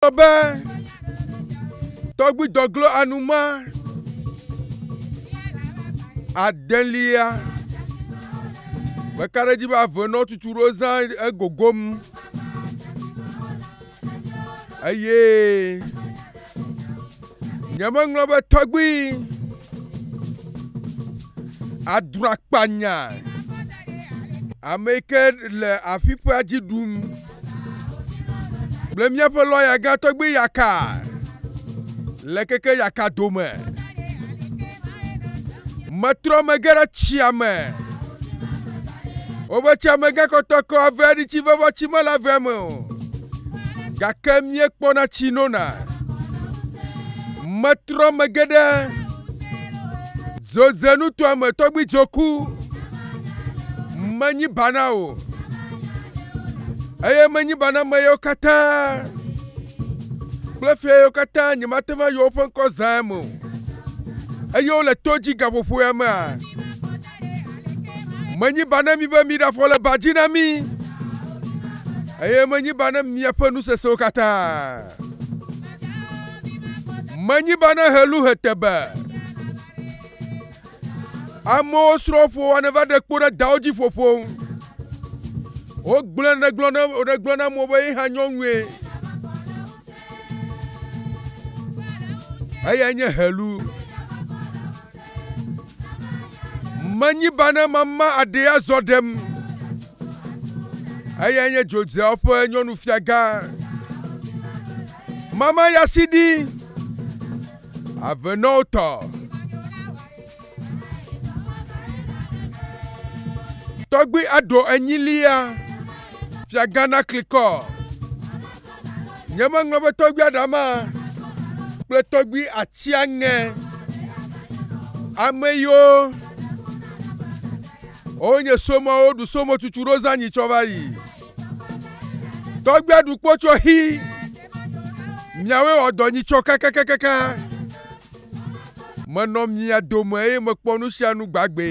Gblɔ be, Tɔgbui dɔglo anuma adelia, meka ɖe edzi be ave nɔ tutu ɖo zã egogom eye nyemeŋlɔ be tɔgbui adro akpanya ame yi ke le afi ƒe dzi ɖum. Kple míaƒe lɔya gã tɔgbi Yaka le keke Yaka dome. Metrɔ megé ɖe tsia me. Wobe tsia me gã kɔtɔkɔ ave ɖi tsi vevɔ tsi mele ave me o. Gake míekpɔna tsi nona. Metrɔ megé ɖe dzodzenutoa me tɔgbi dzoku. Menyi bana o. eye menyi be ame yewo katã kple fia yewo katã nyemate va yɔ woƒe ŋkɔ zã eme o eye wole to dzi gaƒoƒo ya mea menyi ba ne mi be miɖafɔ le ba dzi na mi eye menyi ba ne miaƒe nu sesẽwo katã menyi ba ne helu hetebe Amewo srɔ̃ ƒoa ne va ɖe kpo ɖe dawo dzi ƒoƒo ŋu. Wogblẽ ne gblɔ ne ɖe gblɔ na amewo be ye hã nyɔnue. Eya nye helu. Menyi ba ne mama aɖe azɔ ɖem. Eya nye dzodzeawo ƒe nyɔnufiagã. Mama ya si ɖi. Avenɔwo tɔ. Tɔgbui aɖo enyilia, fiagã naklikɔ. Nyemeŋlɔ be tɔgbui aɖama kple tɔgbui atsiaŋe. Ame yiwo wonye somɔwo ɖu somotsutsu ɖo zã nyi tsɔ va yi. Tɔgbui aɖu kpo tsɔ xi. Miawoe wɔ dɔ nyitsɔ kakakakaka. Menɔ mia dome eye mekpɔ nu sia nu gbagbe.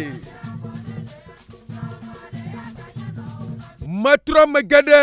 Metrɔ megbe ɖe.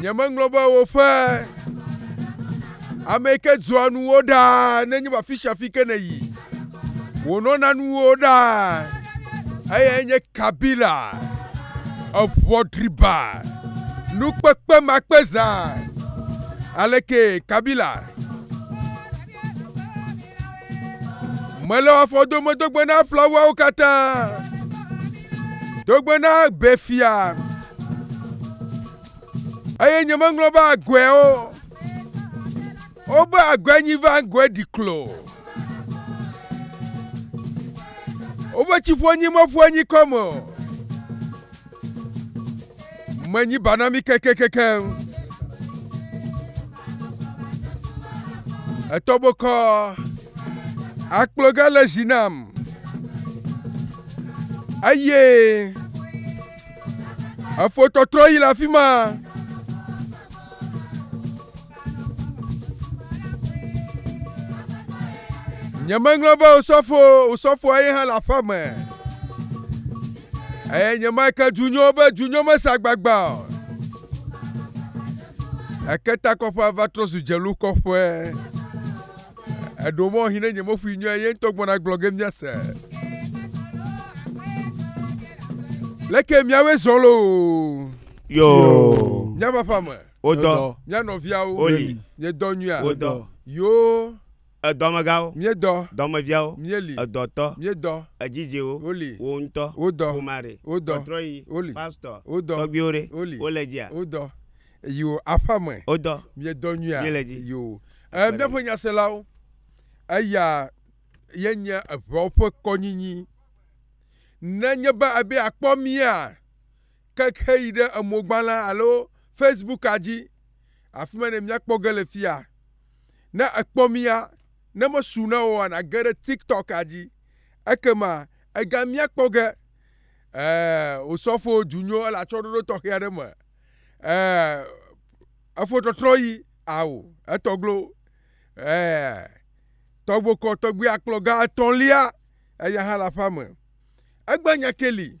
Nyemeŋlɔ be woƒe ame ke dzɔa nuwo ɖaa nenye be afi sia afi ke nèyi. Wònɔna nuwo ɖaa. Eyae nye Kabila, eŋɔdriba, nukpekpemakpezã. Alekee Kabila. Mele afɔ dome dogbe na flawawo katã, dogbe na gbe fia, eye nyemeŋlɔ be agɔewo, wobe agɔe nyi va ŋgɔe ɖi klo. Wobe tsi ƒo nyi meƒo nyi kɔme o. Menyi ba na mí kekekekeŋ. Etɔ bokɔ akploga le zi nam eye efotɔtrɔ yi le afi ma. nyemeŋlɔ be osɔfo osɔfoa ye hã le aƒe me eye nyemeke dunyo be dunyo mesa gbagba o eke takɔƒea va trɔ zu dzelu kɔƒe eɖo mɔ hi ne nyemeƒui nyɔe ye ŋutɔ gbɔna gblɔ ge miase leke miawoe zɔ loo yoo nyabaƒa me Wodɔ. Mía nɔviawo. Woli. Míedɔ nyuia. Wodɔ. Yoo. Edɔmegãwo. Míedɔ. Dɔmeviawo. Míeli. Edɔtɔ. Míedɔ. Edzidziwo. Woli. Wò ŋutɔ. Wodɔ. Ƒomare. Wodɔ. Kɔtrɔyi. Woli. Pastɔ. Wodɔ. Tɔgbiwo ɖe. Woli. Wole dzia. Wodɔ. Yoo. Aƒea me. Wodɔ. Míedɔ nyuia. Míele dzi. Yoo. Ɛ míaƒe nyaselawo. Eya ye nye eŋeawo ƒe kɔnyinyi. Nenye be ebe akpɔ mía. keke heyi ɖe emogbalẽ alo Facebooka dzi. Afi ma ne míakpɔ ge le fia. Ne èkpɔ mía, ne mesu na wò oa, nàge ɖe TikToka dzi. Ekema ègamia kpɔ ge. Ɛɛ, wò sɔfo du nyo ele atsyɔ̃ɖoɖo tɔxɛ aɖe me. Ɛɛ, efotɔtrɔ yi, ao, etɔglo. Ɛɛ, tɔgbokɔ tɔgbuiakplɔga etɔ̃lia, eya hã le aƒea me. Egbe nya ke li.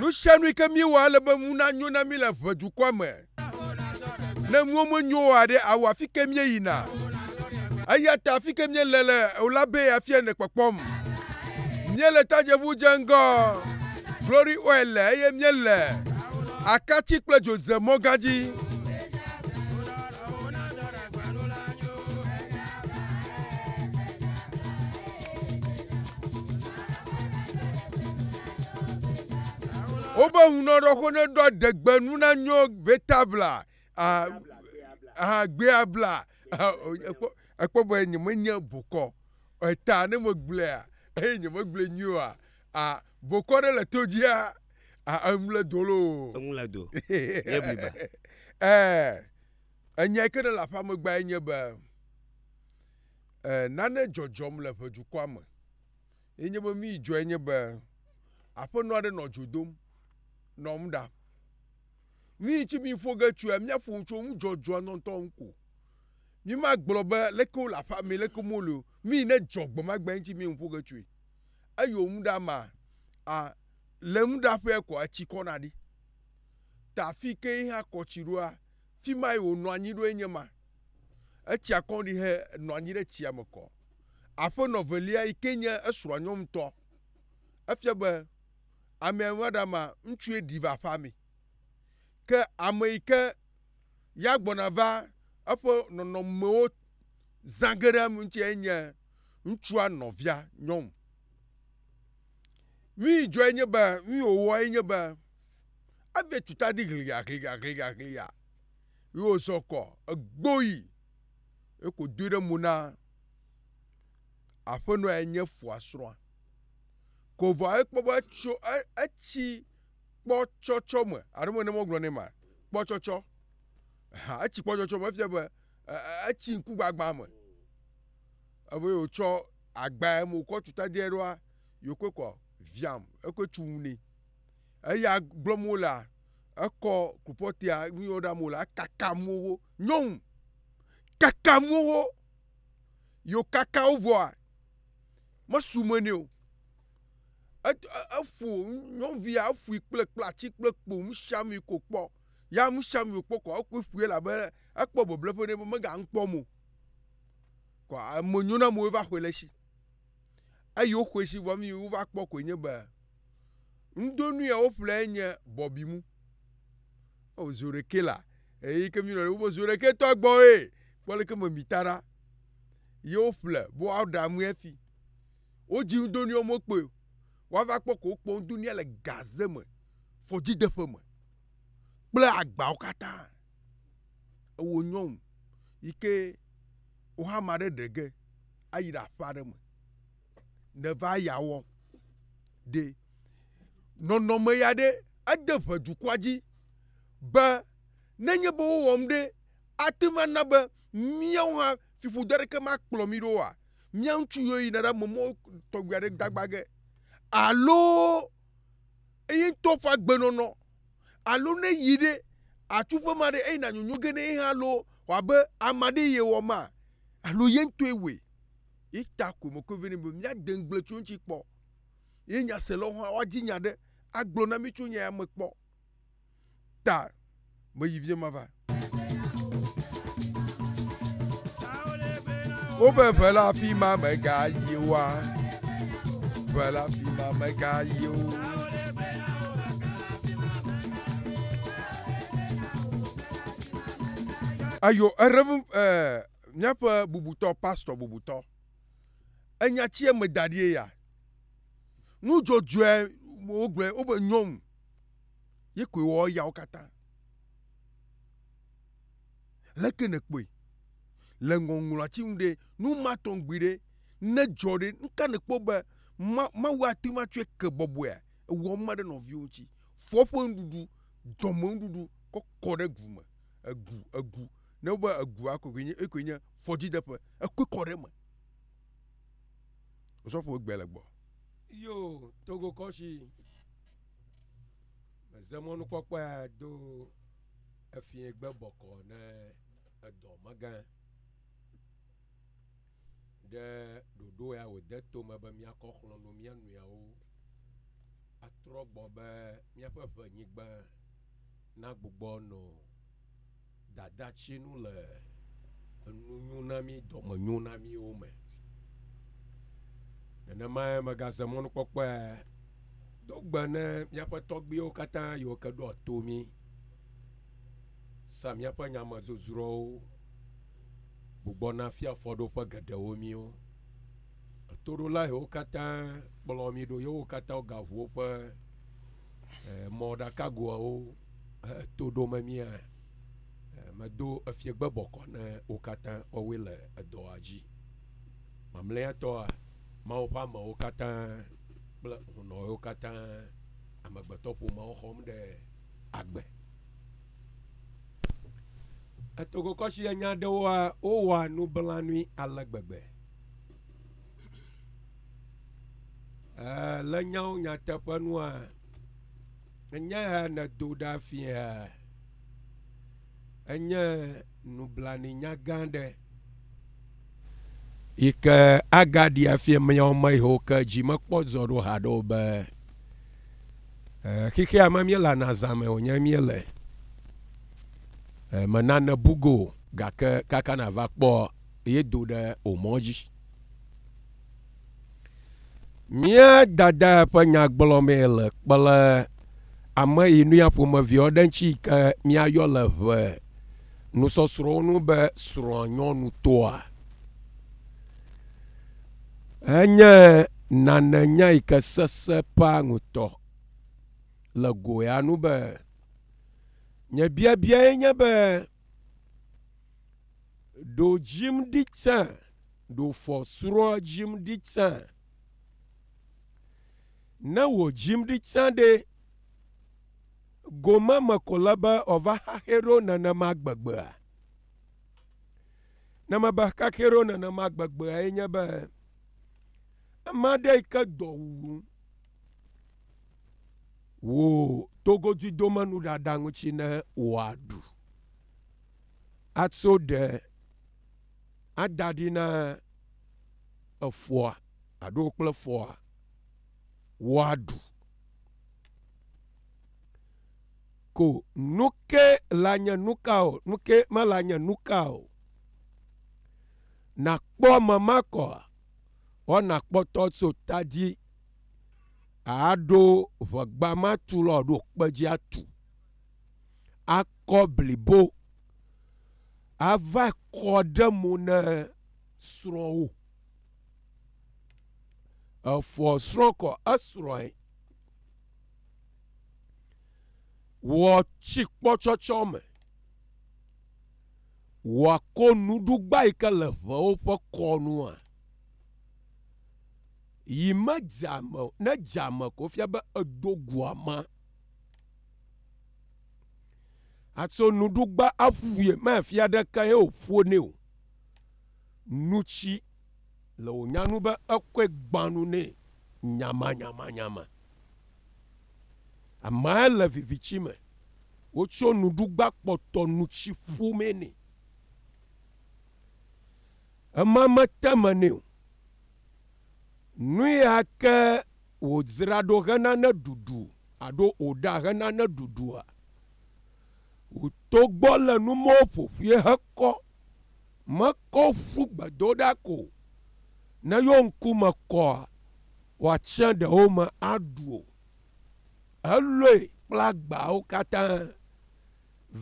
Nu sia nu yi ke míewɔ ele be ŋu nanyo na mí le ʋe dukɔa me. Ne nuwo menyo o aɖe awɔ afi ke míeyina. Eya ta afi ke míele le o la be afia ne kpɔkpɔm. Míele tadzeʋu dze ŋgɔ Glory Oil le eye míele akati kple dzo ze mɔga dzi. wobe ŋunɔɖɔxo ne ɖɔ degbenu na nyo vetabla ahagbea bla ekpɔ be nyemenye bokɔ eta ne megblɔa eye nyemegblɔe nyuie oa Bokɔ ɖe le to dzia, eŋle do loo. Eŋle do. Ye bliba. Ɛɛ, enya yi ke ne le aƒea megbea ye nye be, ɛɛ, nane dzɔdzɔm le ʋedukɔa me. Ye nye be nu yi dzɔe nye be, aƒenɔ aɖe nɔ dzo dom nɔ nu ɖam. Nu yi ŋuti mi ƒo ge tsoea, mía ƒo nu tso nu dzɔdzɔa ŋutɔ ŋutɔ ŋu ko. Mi ma gblɔ be leke wole aƒea me, leke me wole o. Nu yi ne dzɔ gbe ma gbe ŋuti mi ŋu ƒo ge tsoe. eyo ŋu ɖa ma a le ŋu ɖa ƒe kɔa tsi kɔ na ɖi ta fi ke yi hã kɔ tsi ɖoa fi ma yi wo nɔ anyi ɖo enye ma etsia kɔ ɖi he nɔ anyi ɖe tsia me kɔ aƒe nɔ velia yi ke nye esrɔa nyɔnu tɔ efia be ame ya va ɖa ma ŋutsu ye ɖi va aƒa me ke ame yi ke ya gbɔna va eƒe nɔnɔ me wo zã ge ɖe ŋutsia enye ŋutsua nɔvia nyɔnu. Nui dzɔe nye be, nui wòwɔe nye be, evia tu ta di gliagliagliagliagliaa ye wòzɔ kɔ egbo yi ye ko doe ɖe mo na aƒenɔ ya nye foa srɔ̃a. Ko vɔa ekpɔ be etso e etsi kpɔtsɔtsɔ me alo menye be wogblɔ nɛ mea kpɔtsɔtsɔ eha etsi kpɔtsɔtsɔ me efia be. etsi ŋkugbagbã me evo ye wòtsɔ agbae me wòkɔ tu tadee ɖoa, yewokoe kɔ viam, ekoe tsu ŋu nɛ. Eya gblɔm wolea, ekɔ krupɔtea nu yɔ ɖam wolea, ekakam wo. Nyɔnu kakam wo. Yi wòkaka wo vɔa, mesu me nɛ o. Eƒo nyɔnuvia eƒoe kple kple atsi kple kpo nusiamui ko kpɔ. Ya amsham yo kpɔ kɔ ɔkpɔ ƒue la be ekpɔ beble ƒe ne be mega ŋkpɔ mo. Kɔ ame nyo na mo eva xɔe le shi. Eyi wo xɔe shi vɔ mi wo va kpɔ koe nye be ŋdo nu ya wo ƒle enye bɔbi mu. O zo ɖeke la eyi ke mi nɔ wo be zo ɖeke tɔ gbɔ e kpɔ leke me mi ta ɖa. Ye wo ƒle bo wa ɖa mu ya fi. Wo dzi ŋdo niɔ mo kpoe wa va kpɔ ko kpɔ ŋdo nia le gaze me fɔdzi deƒe me kple agbawo katã. Ewo nyɔŋ yike wo hã ma ɖe ɖege ayi ɖe aƒe aɖe me ne va ya wɔ ɖe. Nɔnɔ me ya ɖe ede ʋe dukɔa dzi be ne nye be wo wɔm ɖe ate va na be miawo hã fiƒode aɖeke ma kplɔ mi ɖo oa? mía ŋutsu yiwo yina ɖe ame mɔ tɔgbi aɖe gbagba ge alo eyi ŋutɔ ƒe agbenɔnɔ alo ne yi ɖe atu ƒe ma ɖe eyi na nyonyo ge ne ye hã alo wòabe ame aɖe ye wɔ ma alo ye ŋutɔe wɔe. Ye ta ko mekɔe vɛ nɛ be míade ŋugble tso eŋuti kpɔ. Ye nyaselawo hã woadi nya aɖe agblɔ na mí tso nya ya me kpɔ. ta meyi vie ma va. Woƒe ʋe la fi ma mega yi wa. Ʋe la fi ma mega yi o. Ayo erevu eh, míaƒe bubutɔ pastɔ bubutɔ. Enya tsie me da ɖie ya. Nudzɔdzɔe wogblɔe wobe nyɔnu. ye koe wɔ eyawo katã. Leke nèkpɔe le ŋɔŋlɔati ŋu ɖe, nu ma tɔ ŋugbi ɖe ne dzɔ ɖe, nu ka nèkpɔ be Mawu ate ŋu atsɔe ke bɔbɔea? Ewɔ numa ɖe nɔviwò ŋuti. Fɔ eƒe nuɖuɖu, dɔme nuɖuɖu kɔ kɔ ɖe gu me. Egu, egu, ne wogbe egua koe nye, ekoe nye fɔdzideƒe. Ekɔe kɔ ɖe eme. Osɔfo egbea le gbɔ. Yoo, Togo kɔshi. Meze mɔnukpɔkpɔe do efie gbe bɔkɔ ne edɔ megã ɖe ɖoɖo ya wòde tome be míakɔ xlɔ̃ no mía nɔewo atrɔ gbɔ be míaƒe ʋenyigba nagbugbɔ nɔ Dadatsinu le enunyonami dɔmenyonamiwo me. Nenemae megaze mɔnukpɔkpɔe do gbe ne míaƒe tɔgbuiwo katã yiwo ke ɖoa to mí, sea míaƒe nyamedzodzroawo, gbugbɔna fia fɔɖoƒe geɖewo míwo. Etoɖola yiwo katã kplɔ mí ɖo yewo katã wogaʋu woƒe eh, mɔɖakagoawo he eh, to ɖo memia eh, medo efiegbe bɔkɔ ne wo katã wɔwoe le edɔa dzi mamlɛatɔa mawo ƒe amewo katã kple hunɔwo katã amegbetɔƒomeawo xɔm ɖe agbe etogokɔsi enya ɖewoa wowɔa nublanui ale gbegbe Ee, le nyawo nyateƒe nua, enye ya nèdo ɖa fia. Enye nublanui nya gã aɖe yi ke agaɖi afia miawo me yiwo ke dzi mekpɔ zɔ ɖo haɖe o be e, xexea me míelana zã me wònye míele. E, menane bugo gake kaka nàva kpɔ yedo ɖe wò mɔ dzi. Mía dada ƒe nyagblɔ mee le kple ame yi nu ya ƒomevi aɖe ŋuti yi ke míayɔ le ŋe nusɔsrɔ̃wo nu be srɔ̃a nyɔnu tɔa. Enye nane nya yi ke sesẽ ƒa ŋutɔ le go ya nu be nye biabiae nye be Ɖo jim ɖi tsã, ɖo fɔ srɔ jim ɖi tsã. Ne wò jim ɖi tsã ɖe, gome me ko le be ɔva xaxɛ ɖo nenema gbegbea. Ne me be xaxɛ ɖo nenema gbegbea ye nye be, ame aɖe yi ke dɔ wuwum, wò togoduidomenu ɖaɖa ŋuti ne wòa ɖu. atso ɖe ada ɖi na efɔa alo kple fɔa woaɖu. Ko nuke le anye nuka o, nuke mele anye nuka o. Nakpɔ ame ma kɔa, wɔna kpɔtɔ tso ta dzi aɖo ʋegba ma tu lɔ ɖo kpe dzi atu. akɔ blibo ava kɔ ɖe mo na srɔ̃wò. Efɔ srɔ̃ kɔ esrɔ̃e. Wɔ tsikpɔtsɔtsɔ me. Wɔ ko nuɖugba yi ke le ŋewo ƒe kɔ nua. Yi me dza me o. Ne dza me ko fia be edo gua ma. Àtso nuɖugba aƒuƒui mafia aɖeke ye wòƒo nɛ o. Nu tsi le wò nya nu be ekɔe gbã nu nɛ nyamanyamanyama. Amea le vivitsi me. Wotso nuɖugba kpɔtɔ nu tsi ƒu mee nɛ. Ema mete me nɛ o. Nu ya ke Wòdzra ɖo hena ne ɖuɖu alo wòɖa hena ne ɖuɖua? Wòto gbɔ le numɔwo ƒoƒue hekɔ, mekɔ ƒu gbedo ɖa ko o. Ne yewo ŋku me kɔa, wòatsẽ ɖewo me aɖu o. Elɔe kple agbawo katã,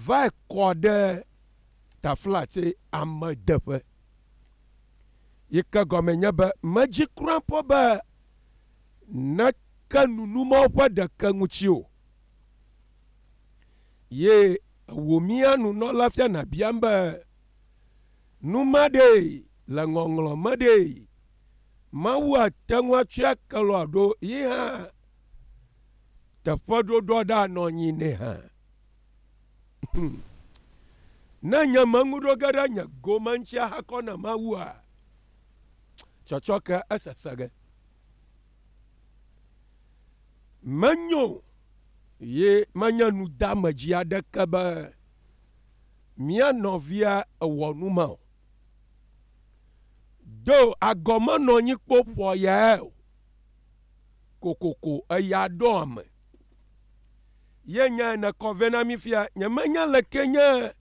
vae kɔ ɖe taflatse amedeƒe. Yi ke gɔmee nye be, medzi kura kpɔ be neke nunu mɔ ƒe ɖeke ŋuti o. Ye wò mía nunɔla fiana biam be, Nu ma ɖee le ŋɔŋlɔ me ɖee, Mawu ate ŋu atsɔe ake lɔa ɖo ye hã teƒeɖoɖoa ɖa nɔ anyi nɛ hã. Hmm. Ne nye meŋu ɖo ge ɖe nye gome ŋuti ahakɔ na Mawua, tsɔtsɔke esese ge. Menyo ye menye nudeamedzi aɖeke be mía nɔvia ewɔ nu ma o. Do agɔmenɔnyikpo ƒoa yae o. Kokoko eya ɖɔ ame. Ye nyae nekɔ vɛ na mí fia. Nyemenya leke nye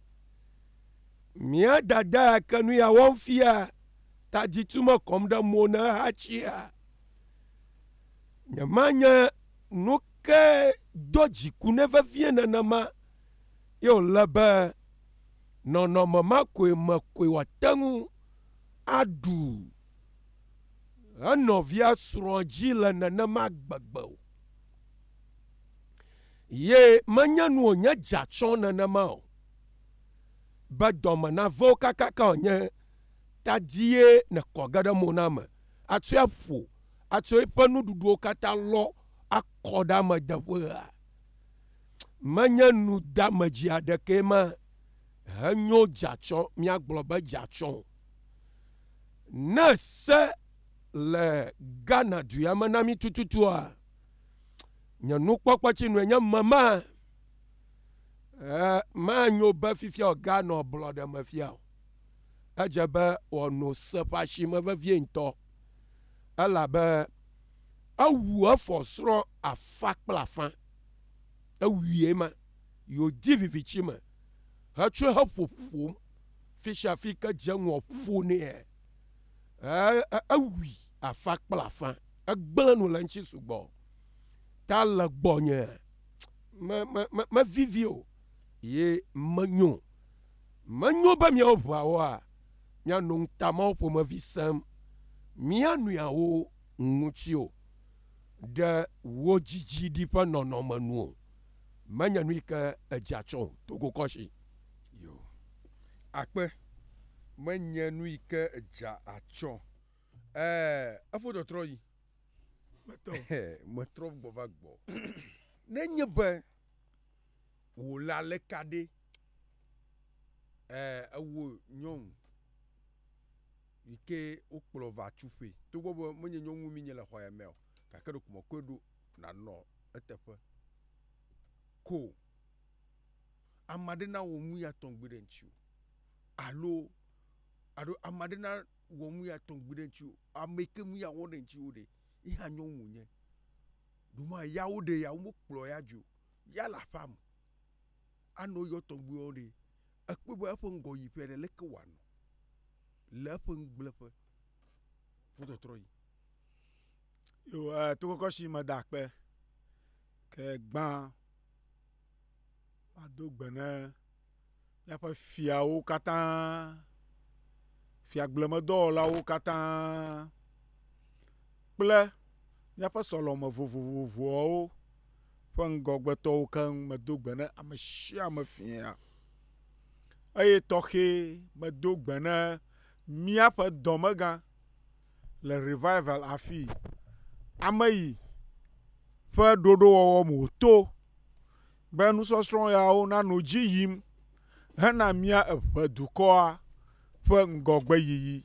mía dada ya ke nu ya wɔm fia. taditu mekɔm ɖe mo na ehatsia? Nyemanya nu ke do dziku nɛ vevie nenema ye wòle be nɔnɔme ma koe me koe wòate ŋu aɖu enɔvia srɔ̃ dzi le nenema gbegbe o. Ye menye nu wònye dza tsɔ nenema o be dɔme nave wo kakaka wònye ta die nekɔ ge ɖe mo na ame, atsoe aƒo, atso eƒe nuɖuɖuwo katã lɔ akɔ ɖe ame deƒea? Menye nu deamedzi aɖekee ma henyo dzatsɔ míagblɔ be dzatsɔ o. Ne se le Ghana dua me na mí tututua, nye nukpɔkpɔtsinue nye mema, e, manyo be fifia o, Ghana o, blɔɖe me fia o. Edze be wòano se ƒe asime vevie ŋutɔ, elabe ewu efɔsrɔ̃ afã kple afã. Ewui ema yi wòdi viviti me hetsɔe heƒoƒom fisiafi ke dze ŋɔ ƒo nɛ. Ewui afã kple afã. Egblẽ nu le eŋuti sugbɔ. Ta le gbɔnye, mevivi o, ye menyo. Menyo be miawo ʋɔawoa miano ŋutamɔwo ƒomevi sẽm mia nɔeawo ŋuti o, ɖe wò dzidziɖi ƒe nɔnɔme nu o, menye nui ke èdzea tsɔ o, to go kɔshi. Yo. Akpe, menye nui ke èdzea atsɔ. Ɛɛ, efo tɔtrɔ yi. Metɔ. Metrɔ gbɔ va gbɔ. Nenye be. Wò le aleka ɖe? Ɛɛ, ewò nyɔnu yi ke wokplɔ va tsuƒe, togbɔ be menye nyɔnu mi nye le xɔ ya mea o, gake ɖeko mekɔe ɖo nànɔ eteƒe ko o. Ame aɖe nawɔ nu ya tɔŋgbi ɖe ŋutiwò alo, alo ame aɖe nawɔ nu ya tɔŋgbi ɖe ŋutiwò. Ame yi ke nu ya wɔ ɖe ŋutiwò ɖe, ye hã nyɔnu wònye? Ɖo ma ya woɖe ya, womekplɔ ya dzoe o. Ya le aƒea me. Anɔ yɔ tɔgbuiwo ɖee. Ekpɔe be eƒe ŋgɔ yi ƒea ɖe, leke wòanɔ? Le eƒe ŋugbleƒe ƒe tɔtrɔ yi. Yo, e, to kɔkɔ si meda akpe. Ke gbã, mado gbe ne Míaƒe fiawo katã, fiagblemedɔwɔlawo katã kple míaƒe sɔleme vovovoawo ƒe ŋgɔgbetɔwo keŋ medo gbe na ame sia ame fia eye tɔxɛ medo gbe na míaƒe dɔmegã le rivival afii. Ameyi ƒe ɖoɖowɔwɔ me wòto Be nusɔsrɔ̃ yawo nanɔ dzi yim hena mía eve dukɔa ƒe ŋgɔgbeyiyi.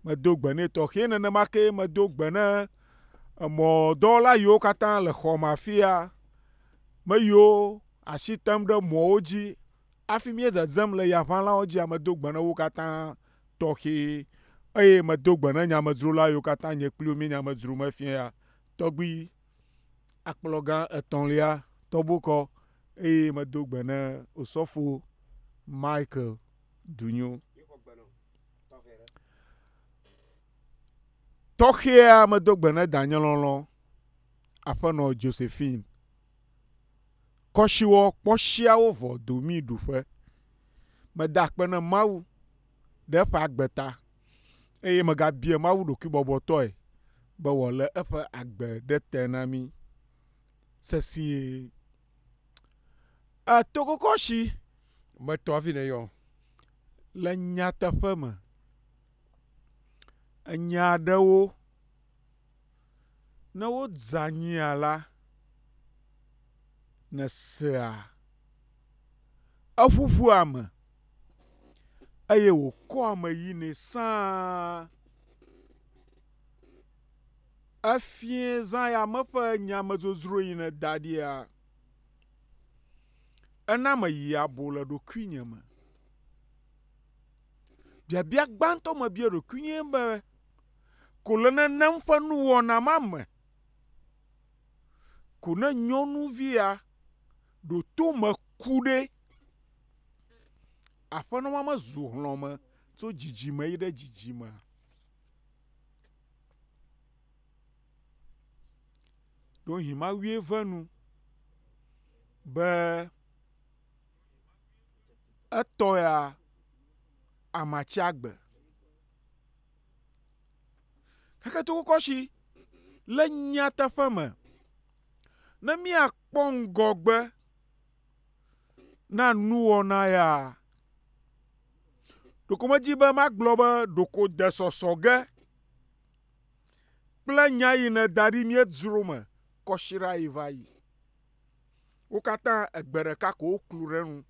Medo gbe nɛ tɔxɛ nenema kee medo gbe ne emɔdɔwɔla yiwo katã le xɔ me afia, me yiwo asi tem ɖe mɔwo dzi hafi míededzem le yaʋãlawo dzia, medo gbe ne wo katã tɔxɛ. Eye medo gbe ne nyamedzrolawo yiwo katã nye kpli wo míenye amedzro me fiaa tɔgbi. akplɔ gã etɔ̃lia tɔgbu kɔ eye medo gbe ne Osɔfo Michael Dunyo. Tɔxɛa medo gbe ne danye lɔlɔ aƒenɔ Josephine. Kɔsiwɔ kpɔsiawo vɔ domi ɖuƒe. Meda akpe ne Mawu ɖe eƒe agbe ta. eye megabia Mawu ɖokuibɔbɔtɔe be wòalé eƒe agbe ɖe te na mí sesĩe. Etokokɔshi metɔ hafi nèyɔ. Le nyateƒe me, enya aɖewo ne wodze anyia la, nèsea eƒuƒua me. eye wòkɔ ame yinɛ sãa. Efiẽ zãyame ƒe nyamedzodzroe yi nèda ɖia? Ena meyi abo le ɖokuinye me. Biabia gbãtɔ mebia ɖokui nye be, Ko le nenem ƒe nuwɔna ma me, ko ne nyɔnuvia ɖo to me ku ɖe? Aƒenɔ ma mezu hlɔ̃me tso dzidzime yi ɖe dzidzime o. Ɖewohĩ Mawue ve nu be etɔ ya amatsi agbe. Xexetokɔkɔshi le nyateƒe me, ne míakpɔ ŋgɔgbe na nuwɔna ya. Ɖeko medzi be magblɔ be ɖeko de sɔsɔ ge kple nya yi nèda ɖi míedzro me kɔsiɖa yi va yi. Wo katã egbe ɖeka ko woklu ɖe enu.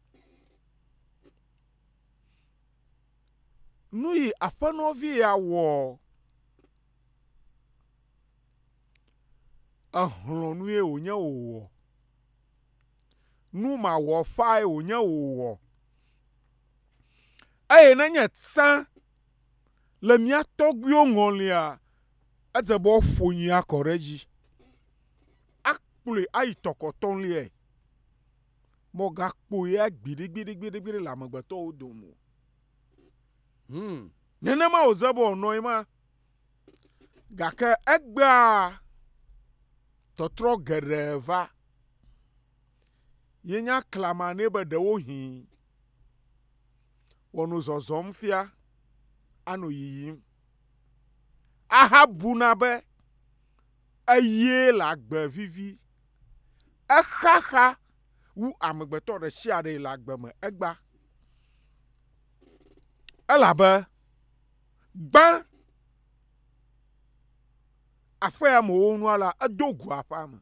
Nu yi aƒenɔvi ya wɔ exlɔ̃ nue wònye wòwɔ. nu mawɔƒãe wònye wòwɔ. Eye nenye tsã le mía tɔgbuiwo ŋɔlia, edze be woƒo nyui akɔ ɖe edzi, akplɔe ayi tɔ kɔtɔliae. Mɔgakpɔ ya gbiɖigbiɖigbiɖi le amegbetɔwo dome o. Hum, nenema wòdze be wòanɔ ye ma. gake egbea tɔtrɔ geɖe va. Yenya klama nɛ be ɖewohĩ wòano zɔzɔm fia, ano yiyim. Ahabuna be eye le agbe vivi. Exaxa wu amegbetɔ ɖe sia ɖe le agbe me egbea, elabe, Gbã aƒea me wo nua la, edo gu aƒea me.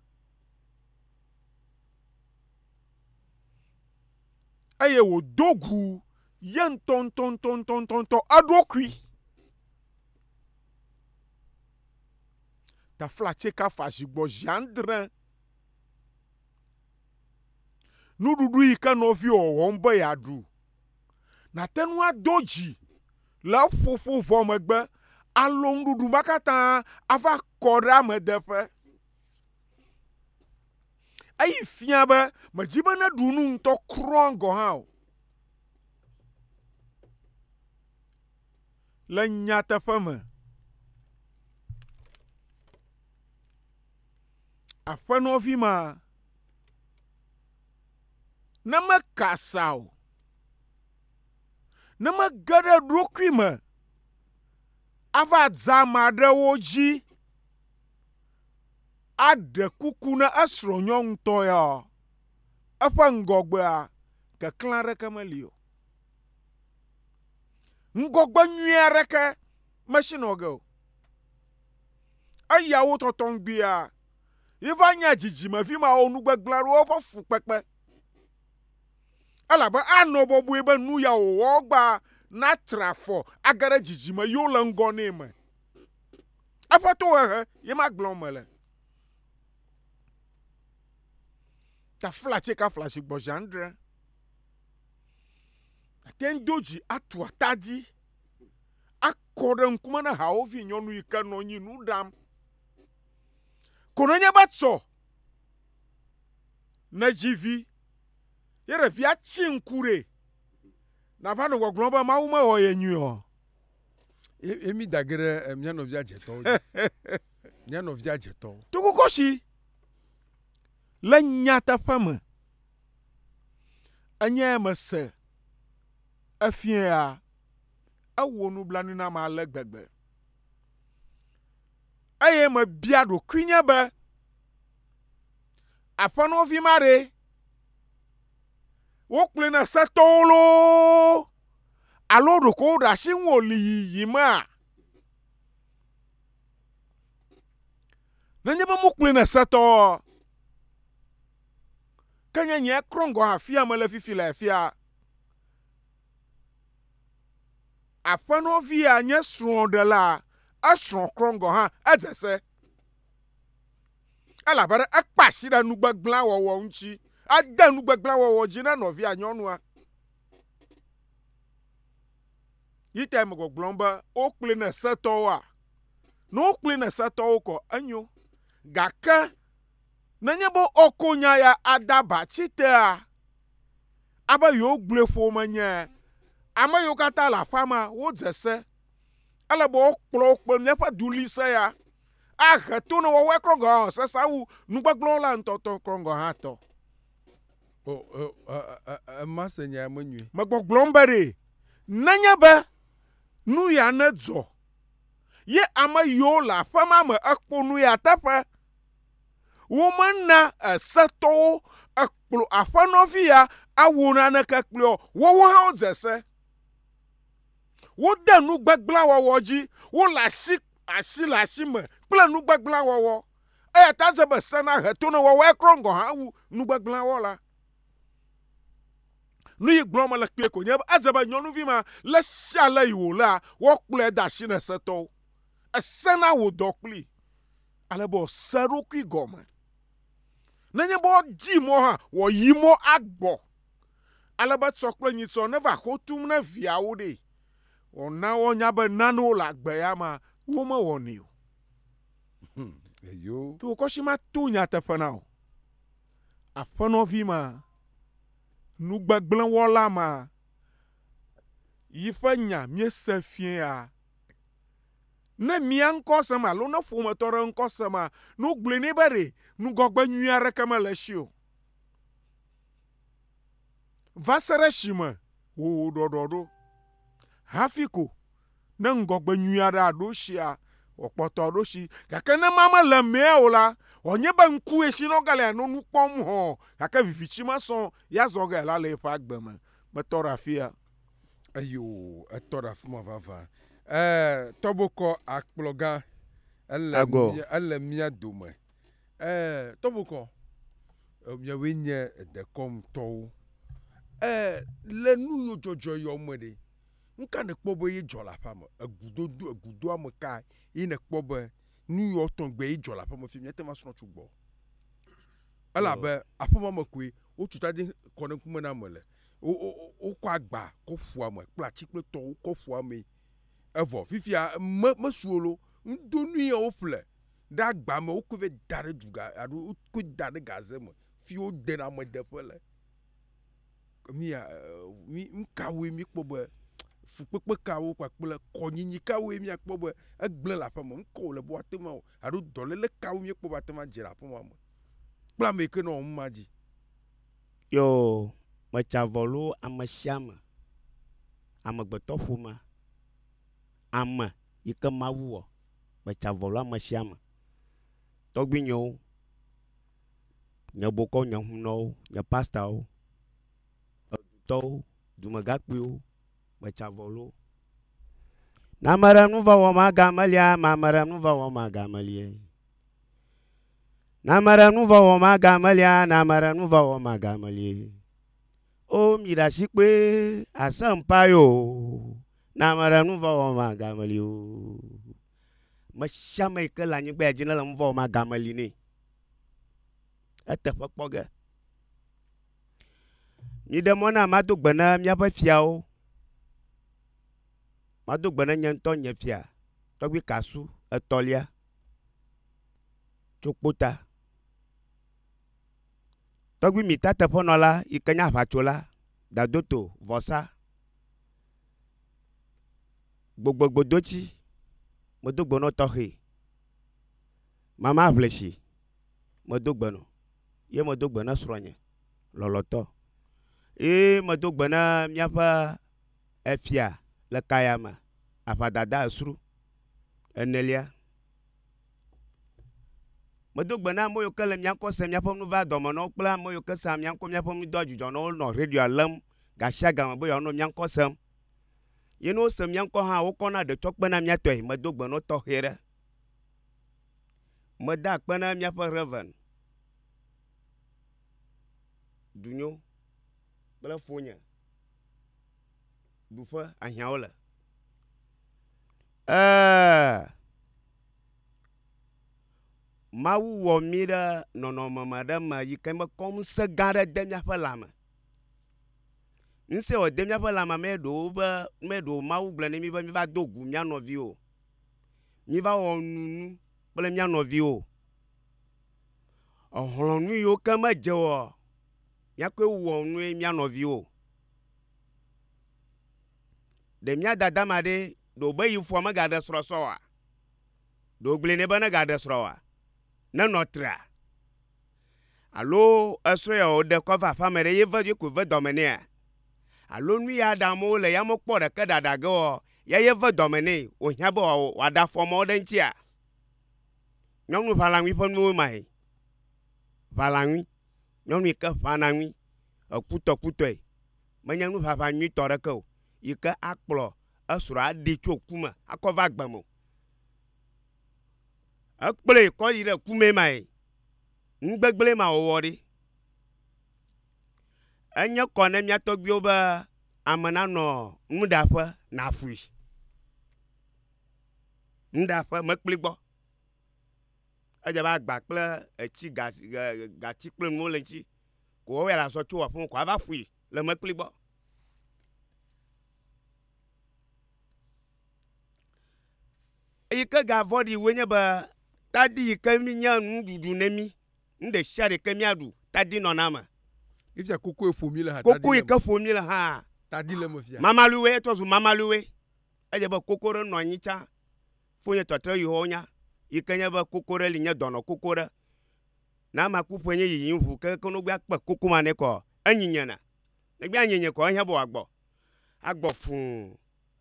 Eye wòdo gu ye ŋutɔŋutɔŋutɔŋutɔ eɖokui. Tafla tseka fa zi gbɔ zi andre. Nuɖuɖu yi ke nɔviwò wɔm be yeaɖu. nàte ŋu ado dzi le eƒoƒo vɔ megbe alo nuɖuɖu ma katã ava kɔ ɖe amedeƒe. Eyi fia be mèdi be neɖu nu ŋutɔ kura gɔ̃ hã o. Le nyateƒe me, aƒenɔvi ma ne meka sa o, ne mege ɖe ɖokui me ava dza ame aɖewo dzi aɖe kuku na esrɔ̃nyɔnutɔ ya, eƒe ŋgɔgbea keklẽ aɖeke meli o. Ŋgɔgbe nyui aɖeke mesinɔ ge o. Eyawo tɔtɔ ŋgbia yi va nye dzidzimevi mawo nu gbegblẽ aɖe woƒe fukpekpe. Elabe anɔ bɔbɔe be nu ya wòwɔ gba natra afɔ age ɖe dzidzime yiwo le ŋgɔ nɛ me. Eƒe tohehe ye magblɔm mele. Taflatse ka flatsi gbɔdzi andre? Ate ŋu do dzi atu ata dzi akɔ ɖe ŋkume na hawòvi nyɔnu yi ke nɔ anyi nu ɖam. Kono nye be tsɔ ne dzi vi ye ɖevia tsi ŋku ɖe nava nɔ gbɔgblɔm be Mawu mewɔ ye nyuie o. Ye mi da ge ɖe eh, mía nɔvia dzetɔwo dzi. Mía nɔvia dzetɔwo. Tukukɔshi le nyateƒe me enye mese efiea ewɔ nublanui nam ale gbegbe. eye mebia ɖokuinye be, Aƒenɔvi ma ɖe, wokplɔe na setɔwo loo alo ɖeko woɖe asi ŋu wòli yiyimea? Nenye be mokplɔe na setɔwoa, ke nye nye ekrɔ ŋgɔ hã afia mele fifi le afia. Aƒenɔvia nye srɔ̃ɖela, esrɔ̃ krɔm gɔ̃ hã edze se. Elabena ekpe asi ɖe nu gbegblẽ wɔwɔ ŋuti. Ede nu gbegblẽ wɔwɔ dzi na nɔvia nyɔnua. Yi tae megbɔgblɔm be wokplɔe ne setɔwoa? Ne wokplɔe ne setɔwo kɔ enyo. Gake Nenye be ɔko nya ya ada ba tsi tea, abe yewogblɔe ƒome nye, ame yiwo katã le aƒea me wodze se. Ele be wokplɔ wo kple míaƒe duɣlise ya ahe to ne wɔwɔe kɔ gɔ̃ hã sesẽ wu nugbegblẽwɔla la ŋutɔ tɔ kɔ gɔ̃ hã tɔ. O, o, e, e, e, ema se nya ya menyuie. Megbɔgblɔm be ɖe nenye be nu ya nedzɔ ye ame yiwo le aƒe ma me ekpɔ nu ya teƒe. Womena esetɔwo ekplɔ aƒenɔvi ya awɔ naneke kplɔe o. Woawo hã wodze se. Wode nu gbegblẽ wɔwɔ dzi. Wole asi asi le asi me kple nu gbegblẽ wɔwɔ. Eya ta eze be se nahe to ne woawo ekrɔ ŋgɔ hã wu nu gbegblẽ wɔla. Nu yi gblɔm mele kpuie ko nye be edze be nyɔnuvi ma le sia le yi wòlea, woakplɔe de asi na esetɔwo. Ese na wò dɔ kplii. ale be wòase eɖokui gɔme. Nenye be wòdi mɔ hã, wòayi mɔ agbɔ, ale be etsɔ kple nyitsɔ neva xo tum na viawo ɖee. Wòana woanya be nanewo le agbe ya mea, womewɔnɛ o. Hum, eyo. To wò kɔshi mato nyateƒe na wò. Aƒenɔvi ma, nugbegblẽwɔla ma, yi ƒe nya míese fiẽa, Ne mia ŋkɔ sem alo ne ƒometɔ ɖe ŋkɔ sem a, ne wogblɔe nɛ be ɖe ŋgɔgbe nyui aɖeke mele esi o. Va se ɖe esime wòwɔ ɖɔɖɔ ɖo. Hafi ko ne ŋgɔgbe nyui aɖe aɖo esia, wòakpɔtɔ aɖo esi. Gake ne ema mele emea o la, wòanye be ŋkue si nɔ ge le anɔ nu kpɔm hɔ̃ɔ, gake viviti mesɔ ya zɔ ge la le eƒe agbe me. Metɔ ɖe afia. Eyo, etɔ ɖe afi ma vavã. Ɛɛ, tɔbokɔ akplɔ gã. Ele Agɔ. mía, ele mía dome. Ɛɛ, tɔbokɔ, e, miawoe nye dekɔnutɔwo. Ɛɛ, le nu yiwo dzɔdzɔ yawo me ɖe, nu ka nèkpɔ be ye dzɔ le aƒea me? Egudodo, egudoame ka ye nèkpɔ be nu yawo tɔgbe ye dzɔ le aƒea me fi míate ŋu asrɔ̃ tso gbɔ? Elabe aƒe ma me koe wotu tadi kɔ ɖe ŋkume na ame le. wokɔ agba kɔ ƒua me kple atsi kple tɔwo kɔ ƒua mee evɔ fifia me mesu o lo ŋdo nu ya woƒle ɖe agba me wokɔe va da ɖe duga alo wokɔe da ɖe gaze me fi wodena ame deƒe le. Nuya nukawoe mikpɔ be fukpekpe kawo kpakple kɔnyinyi kawoe miakpɔ be egblẽ le aƒeme ŋkɔ wòle be woate ŋu awɔ alo dɔlele kawo miekpɔ be ate ŋu adze le aƒemea me kple ameyike nɔ numa dzi. Yoo, metsa vɔ loo amesiame, amegbetɔƒomea, ame yike Mawu wɔ, metsa vɔ loo amesiame, tɔgbuinyewo, nye bokɔwo, nye hunɔwo, nye pastawo, edutɔwo, dumegakpuiwo, metsa vɔ loo. Ne ameɖe nuvɔ̃ wɔm, ame aɖe nuvɔ̃ wɔm, ame aɖe melie. Na ame ɖe nu vɔ wɔm agamelia, na ame ɖe nu vɔ wɔm agamelie. O mi ɖe asi kpɔe, àsẽ ŋpa ye o, na ame ɖe nu vɔ wɔm agameli o. Me sia ame yi ke le anyigba ya dzi ne le nu vɔ wɔm agameli nɛ. Eteƒe kpɔ ge. Miɖe mɔ nam mado gbe na míaƒe fiawo. Mado gbe na nye ŋutɔ nye fia, tɔgbui Kasu etɔ̃lia. tso kpota. Tɔgbi mita teƒenɔla yi ke nye aʋatsola dado to vɔsa gbogbogbodoci medo gbe nɔ tɔxɛ mama ʋlesi medo gbe nɔ ye medo gbe ne srɔ̃nye lɔlɔ̃tɔ ye medo gbe ne míaƒe efia le kayame aʋadada esru. Enelia, medo gbe na ame yiwo ke le mía ŋkɔ sem míaƒe nu vaa dɔme nɔwo kple ame yiwo ke sea mía ŋkɔ míaƒe nu doa dzudzɔ nɔwo nɔ radioa lém gashiagame be yewoanɔ mía ŋkɔ sem. Ye ne wose mía ŋkɔ hã wokɔna ɖe tsɔ kpena mía tɔe. Medo gbe nɔ tɔxɛ ɖe. Meda akpe na míaƒe Rev. Dunyo kple fonye. ɖuƒe ahiãwo le. Ee, Mawu wɔ mí ɖe nɔnɔme me aɖe me yi ke mekɔ ŋusẽ gã aɖe de míaƒe lãme. Ŋusẽ ye wòde míaƒe lãme me ɖe wòwu be, me ɖe wòwu be Mawu gblɔ na mí be míva do gu mía nɔviwo o, míva wɔ nunu kple mía nɔviwo o. Exlɔ̃ nu yiwo ke medze o, míakɔe wɔ nu ye mía nɔviwo o. Ɖe mía dada ma ɖee ɖe wòbe yi foa megaɖe srɔ̃ sɔ oa? Ɖe wogblɔe nɛ be negaɖe srɔ̃ oa? Nenɔ trea? Alo esrɔ̃ ya wòɖe kɔ va aƒea me ɖe ye ve ye koe ve dɔme nɛa? Alo nu ya ɖe amewo le ya mekpɔ ɖeke ɖaɖa ge oa, ya ye ve dɔme nɛ wòhiã be wòaɖe afɔ mɔ ɖe eŋutia? Nyɔnu ʋalaŋui ƒe nuwo mae. Ʋalaŋui. Nyɔnu yi ke ʋãna nui hekutɔkutɔe menye nuʋaʋã nyuitɔ aɖeke o yi ke akplɔ esrɔ̃a aɖi tso ku me akɔ va agbe me o. Ekplɔe kɔ yi ɖe ku mee mae, nu gbegblẽ ma wɔwɔ ɖi. Enye kɔ ne mía tɔgbuiwo be ame nanɔ nuɖaƒe naƒui. Nuɖaƒe mekpli gbɔ. edze be agba kple etsi ga gatsi kple nuwo le eŋti ko woawɔe la sɔ tso aƒe me ko ava ƒui le mekpli gbɔ. Eyi ke ga vɔɖi woe nye be tadi yi ke mi nye nuɖuɖu ne mi. Nu ɖe sia ɖe yi ke miaɖu tadi nɔna eme. Efia koko yi ƒo mi le hã. Koko yi ke ƒo mi le hã. Tadi le eme fia. Mamaliwoe etrɔ zu mamaliwoe. Edze be koko ɖe nɔ anyi tsã Fonye tɔtrɔ yi hɔwo nya, yi ke nye be koko ɖe li nye dɔnɔ koko ɖe. Na ama ku ƒe nye yiyi ŋu ke ke no gbe akpe koko ma ne kɔ enyi nye na. Ne gbe anyi nye kɔ ehiã bo agbɔ. Agbɔ fuu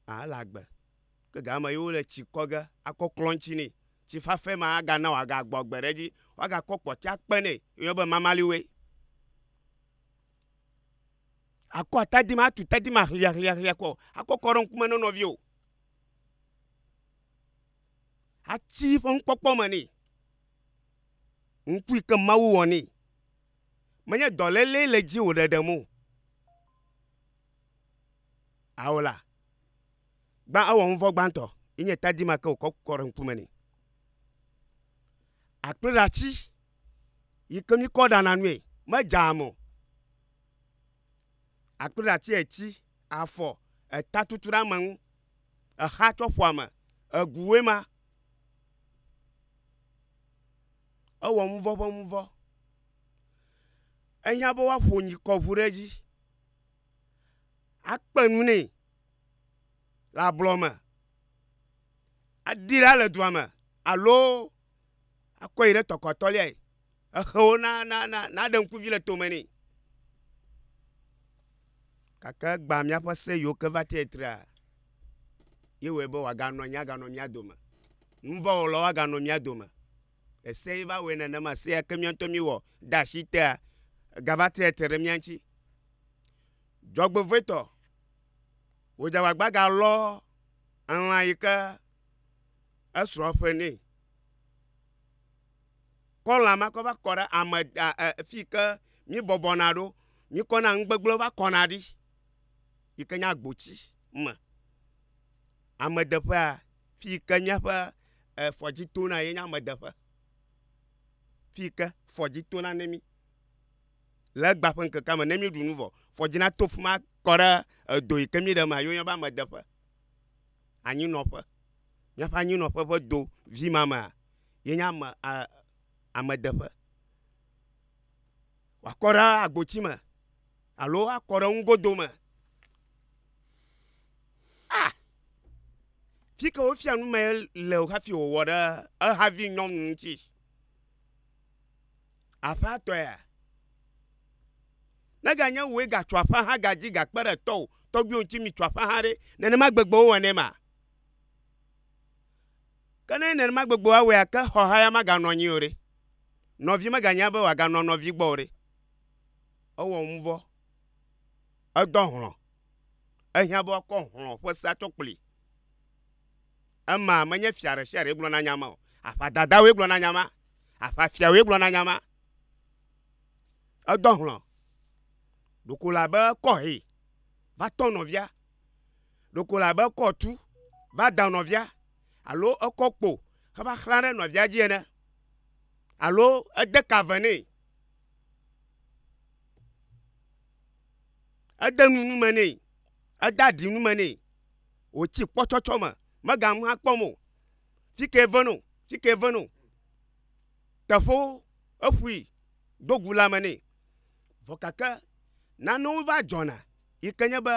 a ele agbe. Ke ga ama yewo le tsi kɔ ge akɔ klɔ ŋtsi ne. Tsi fafe ma a ga na wa ga gbɔ agbe ɖe dzi. Wa ga kɔ kpɔti a kpe ne yi yɔ be mamali we. Akɔ atadi ma tu tadi ma hlia hlia hlia kɔ akɔ kɔ ɖe ŋkume ne nɔvio. Ati ƒe nukpɔkpɔ me nɛ. Nuku yi ke Mawu wɔ nɛ. Menye dɔléle le edzi wòle ɖem o. Ao la, gbã ewɔ nu vɔ̃ gbãtɔ yi nye tadi ma ke wòkɔ kɔ ɖe ŋkume nɛ. Akpliɖati yi ke míkɔ ɖana nui, medzaa me o. Akpli ɖati etsi, afɔ, eta tutu ɖe ame ŋu. Exa tsɔ ƒo ame. Eguwoe ma. Ewɔ nuvɔ ƒe nuvɔ. Ehiã be woaƒo nyikɔ ŋu ɖe edzi. Akpe nu nɛ le ablɔ me. Aɖii ɖa le dua me alo. akɔe yi ɖe tɔkɔ atɔ̃liae. Exe wo na, na, na, naɖe ŋkuvi le tome nɛ. Gake egbã míaƒe se yiwo ke va tee trea, ye wɔe be wòaganɔ anyi aganɔ mía dome. Nuvɔ̃wɔlawo aganɔ mía dome. Ese ye va wɔe nenema. Se ya ke mía ŋutɔ míewɔ de asi tea, egava tre te ɖe mía ŋuti. Dzɔgbevɔ̃etɔ, wò dzagbagba galɔ elã yi ke esrɔ̃ ƒe nɛ kɔ lã ma kɔ va kɔ ɖe ame da e fi ke mi bɔbɔ na ɖo mi kɔ na nu gbegblẽ va kɔ na ɖi yi ke nye agboti me amedeƒea fi ke míaƒe efɔdzi tona ye nye amedeƒe fi ke fɔdzi tona ne mi le egba ƒe ŋkekea me ne míeɖu nu vɔ fɔdzi nato fi ma akɔ ɖe edo yi ke mi ɖe mea ye wonyɔna be amedeƒe. anyinɔƒe, míaƒe anyinɔƒe ƒe do vi ma mea, ye nye ame a amedeƒe. Wòakɔ ɖe agboti me alo akɔ ɖe nugodo me. A fi ke wofia nu mee le o hafi wòwɔ ɖe ehavi nyɔnu ŋuti. Aƒatɔea? Ne ganye wòe gatso aƒa hã gadzi gakpe ɖe tɔwò tɔgbuiwo ŋuti mitso aƒa hã ɖe, nenema gbegbe wowɔnɛ ma? Ke ne nenema gbegbe woawɔe ake xɔhaya maganɔ anyi o ɖe? Nɔvi meganya be wòaganɔ nɔvi gbɔ o ɖe? Ewɔ nuvɔ, edɔ hlɔ̃, ehiã be woakɔ hlɔ̃ ƒe sea tsɔ kplii. Ema menye fia ɖe sia ɖee gblɔna nya ma o. Aʋadadawoe gblɔna nya ma. Aʋafiawoe gblɔna nya ma. Edɔ hlɔ̃ ɖoko la be kɔ hee va tɔ nɔvia. Ɖoko la be kɔ tu va da nɔvia alo ekɔ kpo heva xlã ɖe nɔvia dzi ene alo ede ka ve nɛ, ede nu nu me nɛ, ede aɖi nu me nɛ. wòtsi kpɔtsɔtsɔ me, megaŋu akpɔm o. Fi kee ve no, fi kee ve no. Teƒewo eƒui do gu lãme nɛ. Vɔ gake nanewo va dzɔna yi ke nye be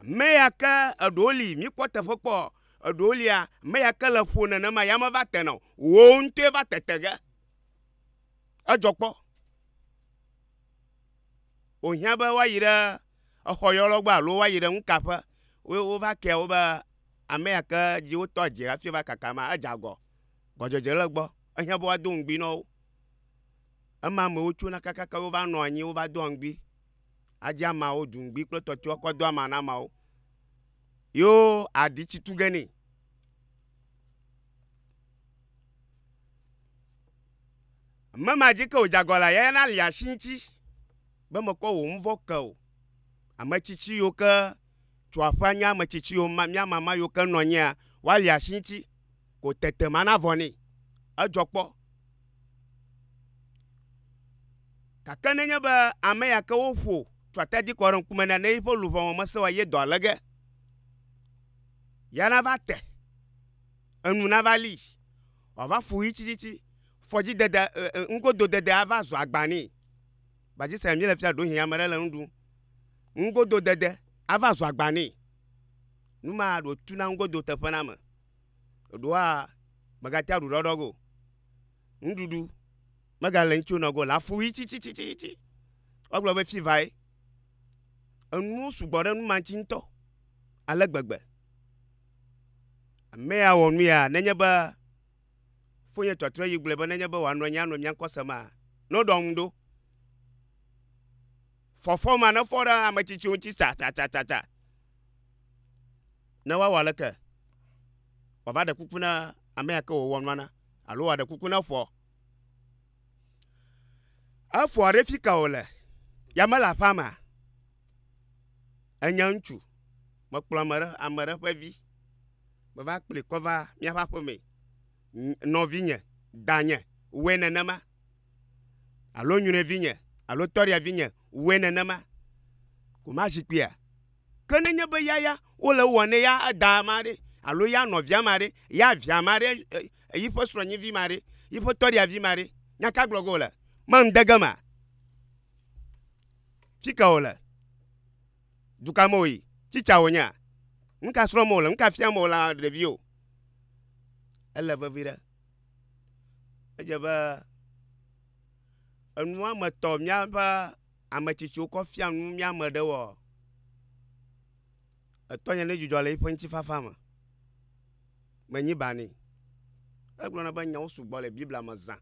ame ya ke eɖewo li míkpɔ teƒe kpɔ eɖewo lia, ame ya ke le ƒo nenema ya meva tena o. Wò ŋutɔe va tete ge. Edzɔ kpɔ. Wòhiã be woayi ɖe. exɔ yɔlɔ gbɔ alo woayi ɖe nukaƒe wo wova kea wo be ame ya ke dzi wotɔ dze hafi va kaka ma edze agɔ gɔdzedze le egbɔ ehiã be woado ŋugbi na wo. Ema amewo tsona kakaka wova nɔ anyi wova doa ŋugbi adzi amawo ɖu ŋugbi kple tɔtɔewo akɔ do ama na ameawo yo aɖi tsi tu ge nɛ. Ame ma dzi ke wodze agɔ lea yayana li asi ŋuti. be mekɔ wò ŋvɔ ke o. Ametsitsi yiwo ke tso aƒea nye ametsitsi yiwo ma, mía mama yiwo ke nɔ anyia, woali asi ŋuti ko tete mana vɔ nɛ. Edzɔ kpɔ. Gake nenye be ame ya ke woƒo tso atadi kɔ ɖe ŋkume na ne yiƒe luʋɔ me mesẽ o eye dɔ le ge, ya nava te, enu nava lii, wòava fu ɣi tsitsitsi, fɔdzidede, ŋgododede ava zu agba nɛ. Gbadze sia míele fia ɖohĩ ame ɖe le nu ɖum. Nugodo dede ava zɔ agba nɛ. Nu ma ɖo tu na nugodo teƒe na ame. Ɖoa megate aɖu ɖɔɖɔ go. Nuɖuɖu megale ŋutsi wonɔ go le afu ɣi tsitsitsitsi. Wogblɔ be fi vae. Enuwo sugbɔ ɖe nu ma ŋutsi ŋutɔ ale gbegbe. Ame ya wɔ nu ya nenye be Fonye tɔtrɔe yi gblɔe be nenye be wòanɔ anyi anɔ mía ŋkɔ semaa, noɖɔ ŋu ɖo. Fɔfɔ ma nefɔ ɖe ame tsitsiwo ŋuti tsatsatsatsa. Ne woawɔ aleke? Wòava ɖe kuku na ame ya ke wòwɔ nua na alo wòaɖe kuku na foa. Efoa ɖe fi ka wòle? Ya mele aƒea mea? Enye ŋutsu. Mekplɔ ame ɖe, ame ɖe ƒe vi. Meva kplii kɔ va míaƒe aƒe mee. Nɔvinye, danye, wɔe nenema. Alo nyrɔevinye, alo tɔriavinye, wɔe nenema. Ko ma zikpuia. Ke nenye be ya ya wole ewɔ ne ya da ma ɖe, alo ya nɔvia ma ɖe, ya via ma ɖe, yiƒe srɔ̃nyivi ma ɖe, yiƒe tɔriavi ma ɖe, nya ka gblɔ ge wòle? Manu de ge mea? Fika wòle? Duka me wòyi? Tsi tsa wònyea? Nu ka srɔ̃m wòle? Nu ka fiam wòle ɖeviwo? Ele vevi ɖe. Edze be enua me tɔ míaƒe ame tsitsiwo kɔ fia nu mía ame ɖewoa? Etɔnye ɖe dzidzɔ le eƒe ŋutifafa me. Menyi ba nɛ. Egblɔna be nyawo sugbɔ le Biblia me zã.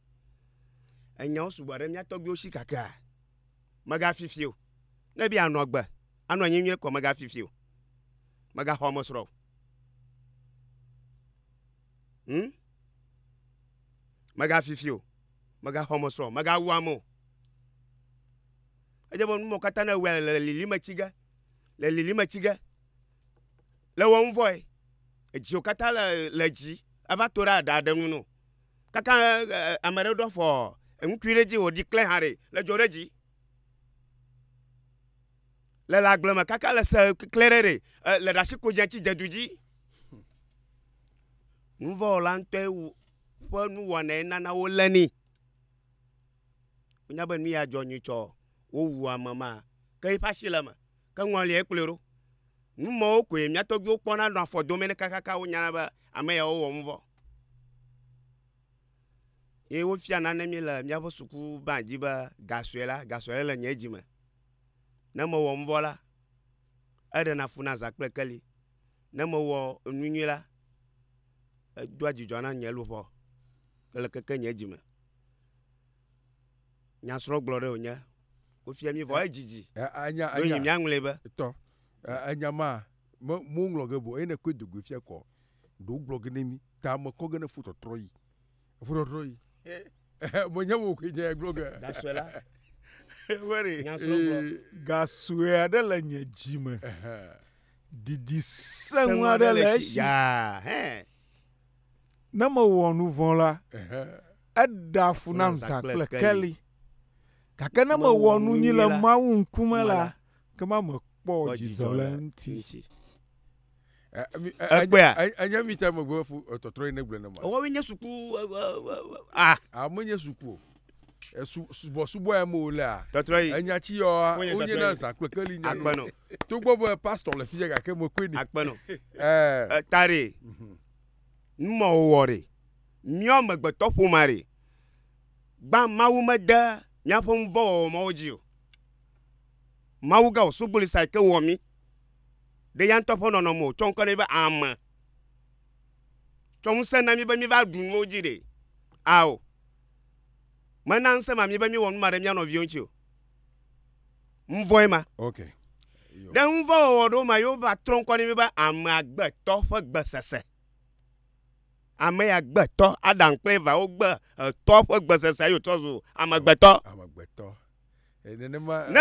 Enyawo sugbɔ ɖe mía tɔgbuiwo si kakea? Mègafifi o. Ne be yeanɔ agbe, anɔ anyi nyuie kɔ, mègafifi o. Mègaxɔ amesrɔ̃ o. Hm? Mègafifi o. Mègaxɔ amesrɔ̃ o. Mègawu ame o. Edze be nu mawo katã ne ewɔe le le lilim etsi ge. Le lilim etsi ge. Le wɔm vɔe. Edziwo katã le le dzi. Eva to ɖe aɖa ɖe nu nɛ o. kaka ame ɖe ɖɔ fɔ eŋutui ɖe dzi wòɖi klẽ hã ɖe le dzo ɖe dzi. Le le agble me kaka le se klẽ ɖe ɖe le ɖe asi ko dze tsi dze du dzi. Nuvɔwɔla ŋutɔe wu ƒe nuwɔnae nana wolé ni. Wonya be nu ya dzɔ nyuie tsɔ wowu ame ma ke eƒe asi le eme. Ke ŋɔliae kplɔe ɖo. Nu mawo koe mía tɔgbiwo kpɔna nɔa afɔ dome ne kakaka wonyana be ame yawo wɔ nu vɔ. Ye wofia nane mí le míaƒe sukubã dzi be ga sue la, ga sue le nye dzi me. Ne mewɔ nu vɔ la, eɖena fu na zã kple keli. Ne mewɔ enu nyui la, edoa dzidzɔ na nye luʋɔ le keke nye dzi me. Nyasrɔ̃gblɔ ɖe wònye. Wofia mí vɔ eh, edzidzi. Eh, anya, anya. Ɖonyi míaŋlɔe be. Tɔ. Eh, enya ma, me, moŋlɔ ge bo, eye ne koe dogoe fia kɔ. Ɖo gblɔ ge ne mí, ta me kɔ ge ne fotɔtrɔ yi. Fotɔtrɔ yi. Menye mo koe nye gblɔ ge. Gasue la. Wɛri. Nyasrɔ̃gblɔ. Gasue aɖe le nye dzi me. Didi sẽŋu aɖe le esi. Yaa, hɛn. Ne mewɔ nu vɔ̃ la, eɖea fu nam zã kple keli, gake ne mewɔ nu nyui le Mawu ŋkume la, ekema mekpɔ dzidzɔ le eŋuti. Ekpɔa? Enye mi ta megbe fu tɔtrɔ yi ne gblɔ ne ma. Wɔwɔ nye suku a. A menye suku o. subɔsubɔa me wolea enya ci yɔ wonye na zã kple keli nya no to gbɔ be pastor le fia gake me koe ni akpɛnɔ ɛɛ tare numɔ wɔ re miɔ megbetɔ ƒoma re gba mawu mede miaƒe nuvɔ wɔwɔ mawo dzi o mawu ga o sugboli sa ke wɔ mi ɖe ya ŋutɔ ƒe nɔnɔme o tsɔ ŋkɔ ne be ame tsɔ ŋusẽ na mi be mi va ɖu nuwo dzi ɖe ao Mena ŋusẽ ma mí be míewɔ nu ma ɖe mía nɔviwo ŋuti o. Ŋuvɔe ma. Ok. Ɖe ŋuvɔwɔwɔ ɖewo ma yewo va trɔ ŋkɔ ne mí be amea gbetɔ ƒe gbesese. Ame ya gbetɔ, Adam kple Eva wo gbe etɔ ƒe gbesese yewo trɔ zu amegbetɔ. Amegbetɔ. Nenema. Ne.